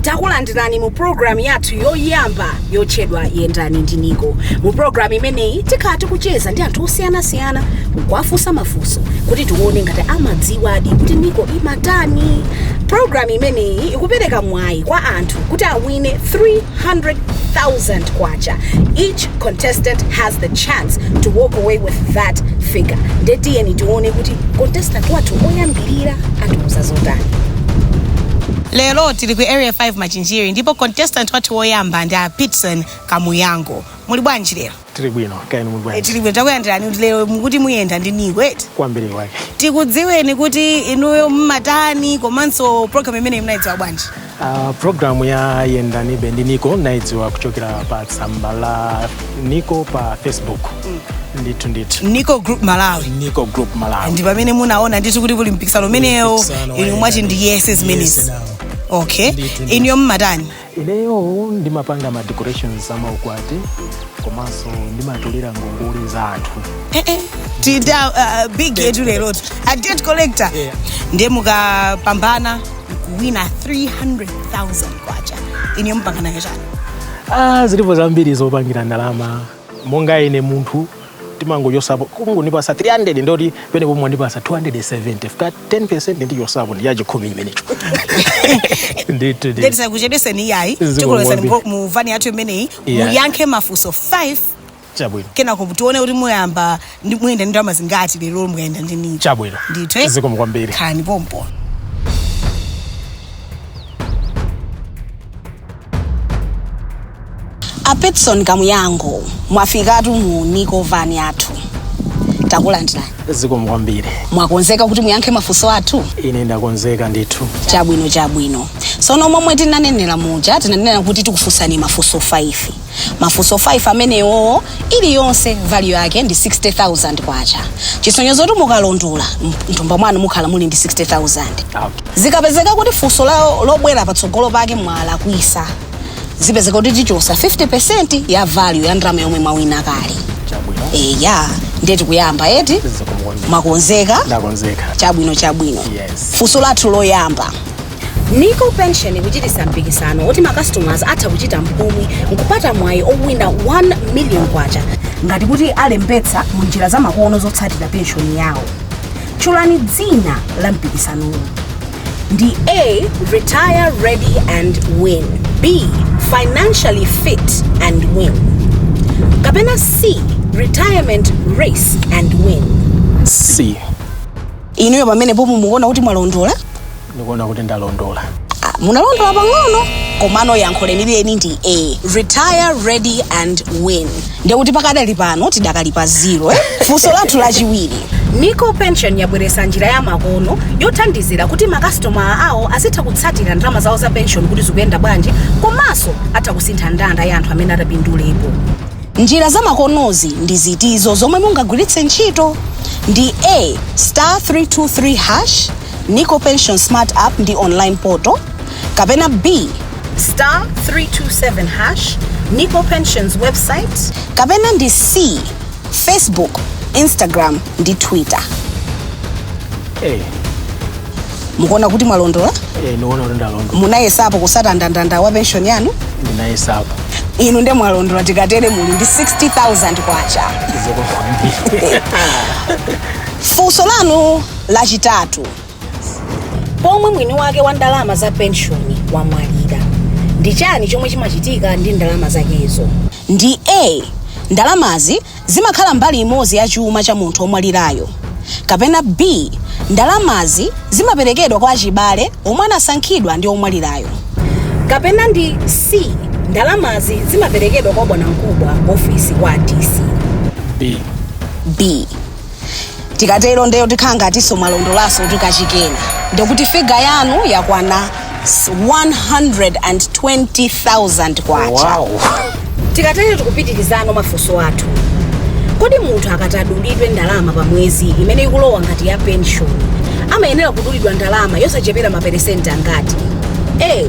takulandirani mu pulogalamu yathu yoyamba yotchedwa yendani ndi niko mu pulogalamu imeneyi tikhala tikucheza ndi anthu osiyanasiyana kuwafunsa mafunso mafunso kuti tione ngati amadziwadi kuti niko imatani pulogalamu imeneyi ikupereka mwayi kwa anthu kuti awine 300000 kwacha each contestant has the chance to walk away with that figure nde tiyeni tione kuti contestant wathu woyambirira atiuza zotani lero tili ku area 5 machinjiri ndipo contestant wathu woyamba ndi a pitson kamuyango muli bwanji lero tili bwino kaya inu muli bwanji tili bwino takulandirani kuti lero mukuti muyenda ndi niko eti kwambiri kwake tikudziweni kuti inuyo mmatani komanso pulogalamu imeneyi munayidziwa bwanji Uh, pulogalamu ya yendanibe ndi niko nayidziwa kuchokera pa tsamba la niko pa facebook ndithu ndithu niko group malawi niko group malawi ndi pamene munaona ndithu kuti kuli mpikisano umenewo inu mwati ndiyese zimenezi Yes, nawo. okay Ndithu, ndithu. inuyo mmatani Ineyo ndimapanga ma decorations a maukwati komanso ndimatolera ngongole za anthu. Eh, eh, tita uh, big yetu lerotu a debt collector Yeah. ndiye mukapambana kuwina 300000 kwacha imeneyo mupanga nayo chani Ah, zilipo zambiri zopangira ndalama monga ine munthu timangochosapo mukangondipasa 300 ndekuti pamenepo mwandipasa 270 chifukwa 10 ndichosapo ndiye chachikhumi chimenecho ndithu ndithu. ndetisakuchedweseni iyayi tikulowesani mu vani yathu imeneyi muyankhe mafunso 5 chabwino kenako tione kuti muyamba Ndi- muyenda ndi ndalama zingati lero mukayenda ndi niko chabwino ndithu eh? zikomo kwambiri khalani pompo a pitson kamuyango mwafikatu mu niko vani yathu takulandirani zikomo kwambiri mwakonzeka kuti muyankhe mafunso athu ine ndakonzeka ndithu chabwino chabwino sono momwe tinanenera muja tinanena kuti tikufunsani mafunso 5 mafunso 5 amenewo iliyonse value yake ndi 60000 kwacha chisonyezo kuti mukalondola mthumba mwanu mukhala muli ndi 60000 zikapezeka kuti funso lobwera patsogolo pake mwalakwisa zipezeka kuti tichosa 50 ya value ya ndalama yomwe mwawina kale eya ndiye tikuyamba eti mwakonzeka ndakonzeka chabwino chabwino Yes. funso lathu loyamba NICO Pension ikuchititsa mpikisano oti ma customers atha kuchita mphumi nkupata mwayi owina 1 million kwacha ngati kuti alembetsa mu njira za makono zotsatira penshoni yawo. Tchulani dzina la mpikisanowu. Ndi A. Retire ready and win. B. Financially fit and win. Kapena C. Retirement race and win. C. Inuyo pamenepo mumukuona kuti mwalondola? ndikuona kuti ndalondola Ah, munalondola pang'ono komano yankho lenileni ndi a retire ready and win ndekuti pakadali pano tidakali pa zero eh? funso lathu lachiwiri NICO Pension yabweretsa njira ya makono yothandizira kuti makasitomala awo azitha kutsatira ndalama zawo za pension kuti zikuyenda bwanji komanso atha kusintha ndandanda ya anthu amene atapindulepo njira za makonozi ndi ziti izo zomwe mungagwiritse ntchito ndi a star 323 hash NICO Pension Smart App ndi Online Portal kapena B. star 327 hash NICO Pensions website kapena ndi C. Facebook, Instagram ndi Twitter. Eh, Mukuona kuti mwalondola? eh, niona kuti ndalondola Munayesapo kutsata ndandanda wa pension yanu? ndinayesapo Inu nde mwalondola tikatere muli ndi 60,000 kwacha. Zokufambirani Funso lanu Lachitatu pomwe mwini wake wa ndalama za penshoni wamwalira. Ndi chani chomwe chimachitika ndi ndalama zakezo? Ndi A, ndalamazi zimakhala mbali imodzi ya chuma cha munthu omwalirayo, kapena B, ndalamazi zimaperekedwa kwa achibale omwe anasankhidwa ndi omwalirayo. Kapena ndi C, ndalamazi zimaperekedwa kwa bwanamkubwa, ofesi ya DC? B. B. tikatero ndeyo tikhala ngatinso mwalondolanso kuti kachikena ndekuti figa yanu yakwana 120,000 kwacha wow tikatero tikupitirizano mafunso athu kodi munthu akati adulidwe ndalama pa mwezi imene ikulowa ngati ya pension amayenera kudulidwa ndalama yosachepera maperesenti angati a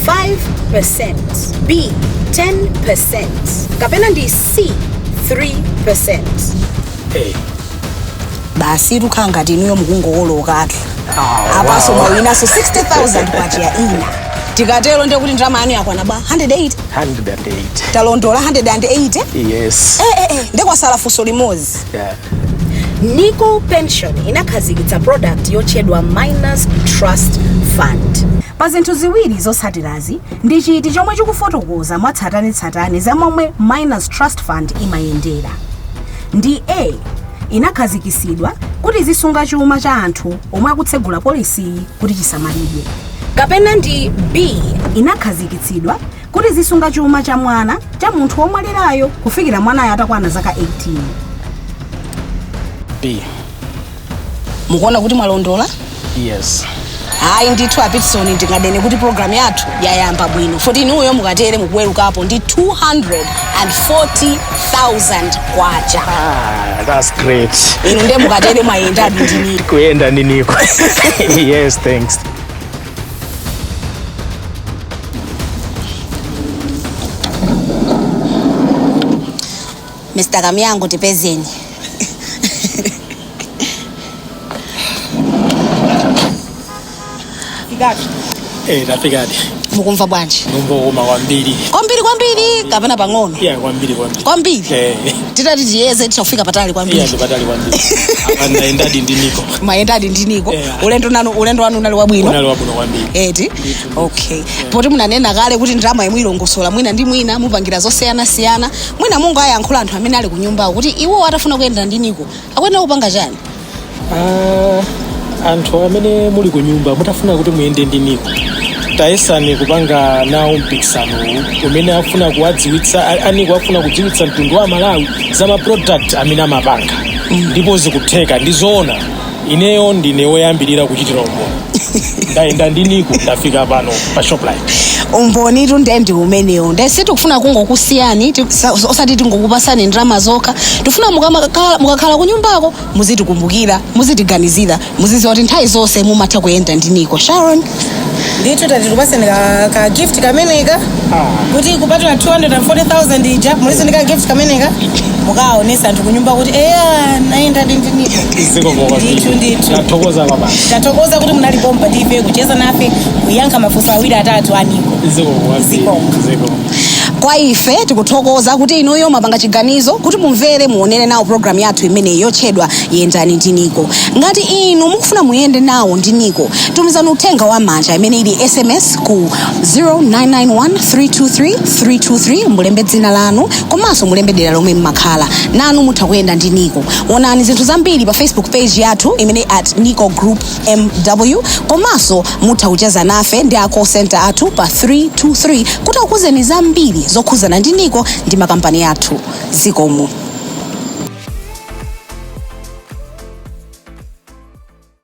5 percent b 10 percent kapena ndi c 3 percent basi tikhala ngati inuyo mukungokololatu apanso mwawinanso 60000 kwacha yaina tikatero ndiye kuti ndalama yanu yakwana ba 108 108 talondola 180 yes Eh, eh, eh, nde kwatsala funso limodzi yeah. NICO Pension inakhazikitsa product yotchedwa minors trust fund pa zinthu ziwiri zotsatirazi ndi chiti chomwe chikufotokoza mwatsatanetsatane za momwe minors trust fund imayendera ndi a inakhazikitsidwa kuti izisunga chuma cha anthu omwe akutsegula polisiyi kuti chisamalidwe kapena ndi b inakhazikitsidwa kuti izisunga chuma cha mwana cha munthu womwalirayo kufikira mwanayo atakwana zaka 18 b mukuona kuti mwalondola yes ayi ndithu apitson ndinganene kuti programu yathu yayamba bwino poti inuyo mukatere mukuweruka pano ndi 240000 kwacha ah, that's great inu ndiye mukatere mwayendadi ndi niko kuyenda ndi niko yes thanks Mr. Kamyango tipezeni. Eh, tafikadi. Mukumva bwanji? Ndikumva bwino kwambiri. Kwambiri kwambiri kapena pang'ono. Iya kwambiri kwambiri. Kwambiri. Eh. Titati tiyeze titha kufika patali Iya kwambiri. ndipatali kwambiri. Apa ndayendadi ndi niko. Mwayendadi ndi niko. Eh. Ulendo nanu ulendo wanu unali wabwino. Unali wabwino kwambiri. eti okay poti munanena kale kuti ndalama yomwe ilongosola mwina ndi mwina mupangira zosiyanasiyana mwina mungowayankhula anthu amene ali kunyumbawo kuti iwo atafuna kuyenda ndi niko akuyenera kupanga chani Ah, anthu amene muli ku nyumba mutafuna kuti muyende ndi niko tayesani kupanga nawo mpikisanowu umene afuna kuwadziwitsa a- aniko afuna kudziwitsa mtundu wa malawi za maproduct amene amapanga ndipo zikutheka ndi zoona ineyo ndine woyambirira kuchitira umboni ndayenda ndi niko ndafika pano pa shoprite umbonitu nde ndi umenewo nde sitikufuna kungokusiyani ti- sa- osati tingokupasani ndalama zokha tikufuna mukamakhala- mukakhala kunyumbako muzitikumbukira muzitiganizira muzidziwa kuti nthawi zonse mumatha kuyenda ndi niko sharon ndithu tati tikupatseni ka, ka gift kameneka kuti kupatula 240000 ija mulinso ndi ka gift kameneka mukaonesa anthu kunyumba kuti eya ndayendadi ndi niko zikomo kwambiri ndithu ndithu tathokoza kwabasi tathokoza kuti munali pompa ndife kucheza nafe kuyankha mafunso awiri atatu aniko zikomo kwambiri Zikomo. zikomo Kwa ife tikuthokoza kuti inuyo mwapanga chiganizo kuti mumvere muonere nawo pulogalamu yathu imeneyi yotchedwa Yendani ndi Nico. Ngati inu mukufuna muyende nawo ndi Nico, tumizani uthenga wa mmanja imene ili SMS ku 0991323323 mulembe dzina lanu komanso mulembe dera lomwe mmakhala. Nanu mutha kuyenda ndi Nico. Onani zinthu zambiri pa Facebook page yathu imene at Nico Group mw komanso mutha kucheza nafe ndi a call center athu pa 323 kuti akuuzeni zambiri zokhudzana ndi niko ndi makampani athu zikomo